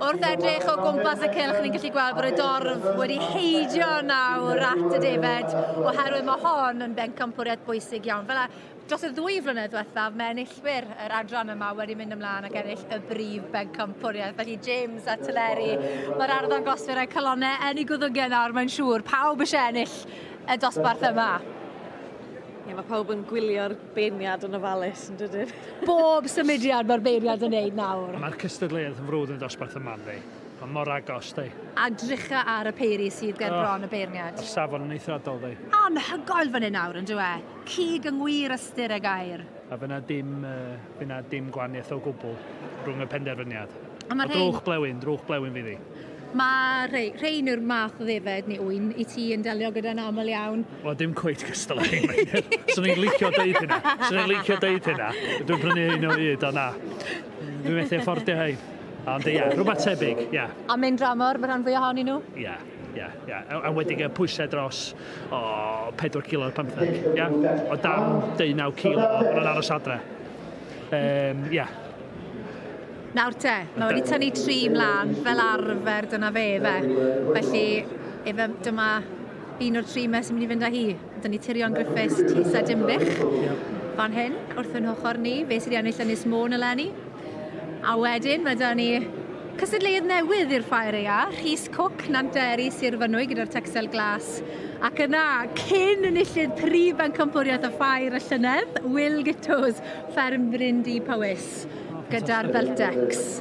Wrth edrych o gwmpas y cylch, ni'n gallu gweld bod y dorf wedi heidio nawr at y defaid, oherwydd mae hon yn bencampwriaeth bwysig iawn. Fel dros y ddwy flynedd diwethaf, mae enillwyr yr adran yma wedi mynd ymlaen ac ennill y brif bencampwriaeth. Felly James a Teleri, mae'r arddan gosfyr a'i calonau yn ei gwddygau nawr, mae'n siŵr. Pawb eisiau ennill y dosbarth yma. Ie, mae pawb yn gwylio'r beirniad yn ofalus yn dydyn? Bob symudiad mae'r beirniad yn neud nawr. Mae'r cystadleuaeth yn frwd yn dosbarth y man ddi. Mae mor agos ddi. A drycha ar y peiri sydd ger bron y beirniad. Mae'r safon yn eithriadol ddi. Anhygoel fan hyn nawr, yn dyw e? Cig yng ngwir ystyr y gair. A fy' 'na dim, fy' 'na dim gwahaniaeth o gwbl rhwng y penderfyniad. A ma' rhein? O drwch blewyn, drwch blewyn fydd hi. Mae rhei, rhein yw'r math o ddefaid neu ŵyn i ti yn delio gyda'n aml iawn. Wel, dim cweit cystal â rhein, Meinir. Swn i'n licio deud hynna. Swn i'n licio deud hynna. Dwi'n prynu rhein o hyd, ond na. Dwi methu affordio rhein. Ond ia, yeah, rhywbeth tebyg, ia. Yeah. A mynd dramor, mae rhan fwy ohonyn nhw? Ia. Yeah. Ie, yeah, ie. Yeah. A wedi gael pwysau dros o 4 kilo ar 15, ie? Yeah? O dan 19 kilo, o'n aros adre. Ie. Um, yeah. Nawr te, mae wedi tynnu tri mlaen, fel arfer dyna fe fe. Felly, efe, dyma un o'r tri mes sy'n mynd i fynd â hi. Dyna ni Tirion Griffiths, Tis a Dimbych, fan hyn, wrth yn ochr ni, fe sydd wedi ennill Ynys Môn eleni. A wedyn, mae da ni cysadleuodd newydd i'r Ffair Ea, Rhys Cwc, Nanteri, Sir Fynwy gyda'r Texel Glas. Ac yna, cyn enillydd prif bencampwriaeth y Ffair y llynedd, Will Gittos, Fferm Bryn Dŷ Powys. gyda'r Veltex.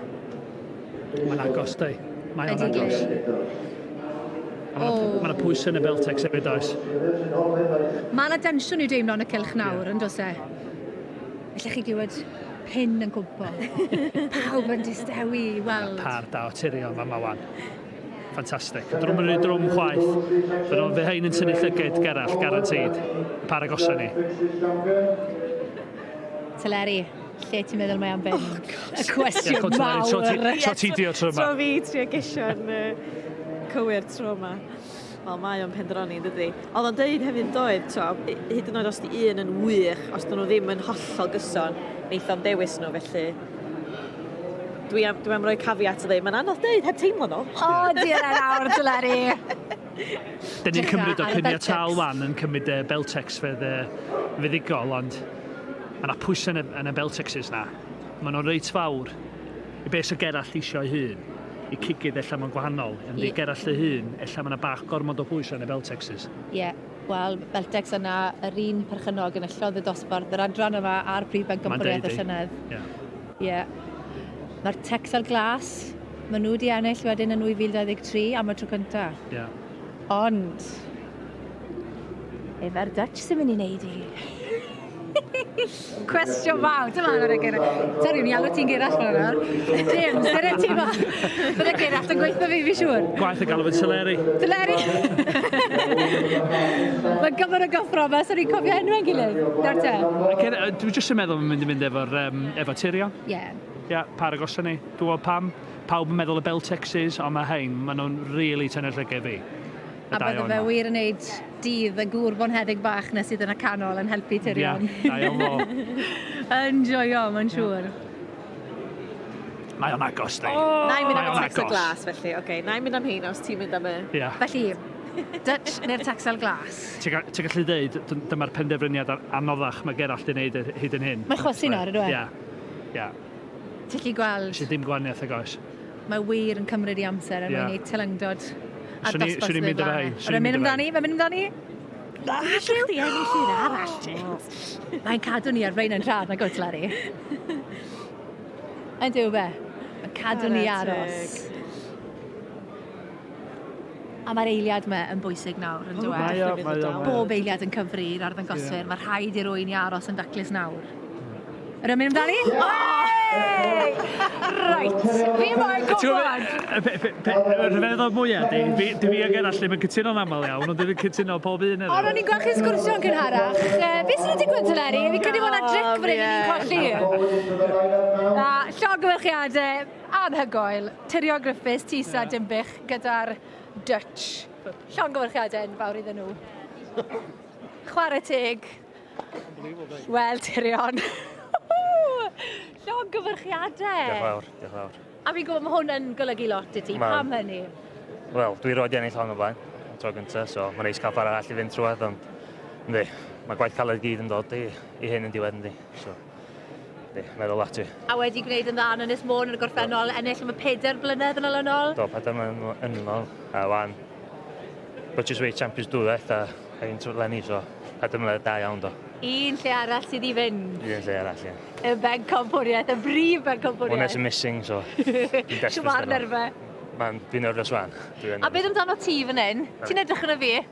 Mae'n agos, dau. Mae'n agos. Mae yna pwys yn y Veltex hefyd, does? Mae yna densiwn i'w deimlo yn y cylch nawr, yeah. yn does e? Felly chi glywed pin yn cwmpo. Pawb yn distewi i weld. Par da o tirion fan mawan. Ffantastig. Drwm yn rhaid drwm chwaith. Fe nhw'n fe hyn yn tynnu llyged gerall, garantid. Par agosa ni. Teleri. Lle ti'n meddwl mae am fynd? Oh, gosh. Y cwestiwn mawr. Tro ti, tro ti di o tro yma. Tro fi trio gesio'n uh, cywir tro yma. Wel, mae o'n pendroni, dydy. Oedd o'n dweud hefyd doedd, tro, hyd yn oed os di un yn wych, os dyn nhw ddim yn hollol gyson, neith o'n dewis nhw, felly dwi am, dwi am roi cafiat o ddim. Mae'n anodd dweud, heb teimlo nhw. O, diolch yn awr, Dyleri. Dyn ni'n cymryd o prynu tal wan yn cymryd y Beltex fedd y fuddigol ond mae yna pwysau yn y, yn y Beltexes na. Mae nhw'n reit fawr i beth sy'n gerallt eisiau ei hun. I cigydd ella mae'n gwahanol, yn yeah. gerallt ei hun, ella mae yna bach gormod o pwysau yn y Beltexes. Ie, yeah. wel, Beltex yna yr un perchynog yn y llodd y dosbarth, yr adran yma a'r prif bencampwriaeth y llynedd. Yeah. Ie. Mae'r Texel Glas, maen nhw wedi ennill wedyn yn 2023 am y tro cynta. Ie. Ond, efa'r Dutch sy'n mynd i wneud i? Cwestiwn fawr, dyma ar y gyrra. Sori, mi alw ti'n gyrall fan yna. James, dyna ti fa. Dyna gyrall yn gweithio fi, fi siŵr. Gwaith y galw yn Teleri. Teleri! Mae gyfer y gyffro yma, sori, cofio enw enwau'n gilydd. Nawr te. Dwi jyst yn meddwl yn mynd i mynd efo'r um, Efo Tyria? Ie. Ie, paid agos â ni. Gwybod pam? Pawb yn meddwl y Beltexes, ond mae rhain, maen nhw'n rili tynnu llygad fi. Y A dau bydde o'n fe 'ma. wir yn neud dydd y gŵr bonheddig bach 'na sydd yn y canol yn helpu Tyrion. Ie, da iawn fo. Yn joio, mae'n siŵr. Mae o'n agos, ddi. O! Na'i mynd am Mae y o'n Texan agos. glas felly, ocê. Na'i mynd am rheina os ti'n mynd am y... Ie. Felly, Dutch neu'r Texel Glas? Ti'n gallu dweud, dyma'r penderfyniad anoddach mae Gerallt 'di wneud hyd yn hyn. Mae chwysu nawr ydyw e? Ie. Ie. Ti'n gallu gweld? Does dim gwahaniaeth nag oes. Mae wir yn cymryd ei amser er mwyn gwneud teilyngdod a dosbarth sydd yn dda. Mae'n mynd amdani, mae'n mynd amdani. Na, allech chdi ennill un arall, James. Mae'n cadw ni ar flaen yn rhad, nag oes, Larry? Ydyw be? Mae'n cadw ni aros. A mae'r eiliad yma yn bwysig nawr, yn dyw e? Mae o, mae o. Bob eiliad yn cyfri i'r arddangoswyr. Yeah. Mae rhaid i'r wy'n i aros yn daclus nawr. Yr ymwneud amdani? Yeah. Oh! Reit, fi moyn gwybod! Y rhyfeddod mwyaf di, dwi fi a Gerallt ddim yn cytuno'n aml iawn, ond dwi'n cytuno pob un yna. Ond o'n i'n gweld chi'n sgwrsio yn cynharach. Uh, be sy'n digwydd te, Leri? Fi credu bod yna dric fan hyn, ni'n colli. Na, llogyfyrchiadau. Anhygoel! Tirion Griffiths, Tisa, Dinbych gyda'r Dutch. Llongyfarchiadau enfawr iddyn nhw. Chwarae teg. Wel, Tirion. Llongyfarchiadau! Diolch yn fawr, diolch yn fawr. A fi'n gwybod mae hwn yn golygu lot i ti, pam hynny? Wel, dwi roed i ennill hon o blaen, y tro gyntaf, so mae'n neis cael parau all i fynd trwad, ond ynddi, mae gwaith caled gyd yn dod i, i hyn yn diwedd ynddi. So. Ie, meddwl ati. A wedi gwneud yn dda yn Ynys Môn yn y gorffennol, ennill am y pedair blynedd yn ol yn ol? Do, pedair mlynedd yn ol, a wan British Weight Champions dwywaith a ein trwy lenni, so pedair mlynedd da iawn do. Un lle arall sydd i fynd. Un lle arall, ie. Y bencampwriaeth, y brif bencampwriaeth. Hwna sy'n missing, so... Siwmar nerfe. Mae'n fi'n nerfus wan. A beth amdano ti fan hyn? Ti'n edrych yn y fi?